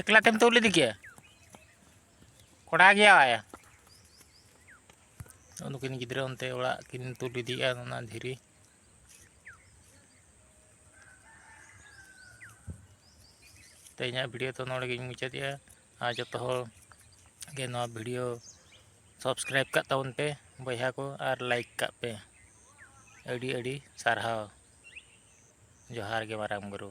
ᱮᱠᱞᱟ ᱛᱮᱢ ᱛᱩᱞ ᱤᱫᱤ ᱠᱮᱭᱟ ᱠᱚᱲᱟ ᱜᱮᱭᱟᱭ ᱱᱩᱠᱤᱱ ᱜᱤᱫᱽᱨᱟᱹ ᱚᱱᱛᱮ ᱚᱲᱟᱜ ᱠᱤᱱ ᱛᱩᱞ ᱤᱫᱤᱭᱮᱜᱼᱟ ᱚᱱᱟ ᱫᱷᱤᱨᱤ ᱛᱮ ᱤᱧᱟᱹᱜ ᱵᱷᱤᱰᱤᱭᱳ ᱛᱚ ᱱᱚᱰᱮ ᱜᱤᱧ ᱢᱩᱪᱟᱹᱫᱮᱜᱼᱟ ᱟᱨ ᱡᱚᱛᱚ ᱦᱚᱲ ᱜᱮ ᱱᱚᱣᱟ ᱵᱷᱤᱰᱤᱭᱳ ᱥᱟᱵᱥᱠᱨᱟᱭᱤᱵ ᱠᱟᱜ ᱛᱟᱵᱚᱱ ᱯᱮ ᱵᱚᱭᱦᱟ ᱠᱚ ᱟᱨ ᱞᱟᱭᱤᱠ ᱠᱟᱜ ᱯᱮ ᱟᱹᱰᱤ ᱟᱹᱰᱤ ᱥᱟᱨᱦᱟᱣ ᱡᱚᱦᱟᱨ ᱜᱮ ᱢᱟᱨᱟᱝ ᱵᱩᱨᱩ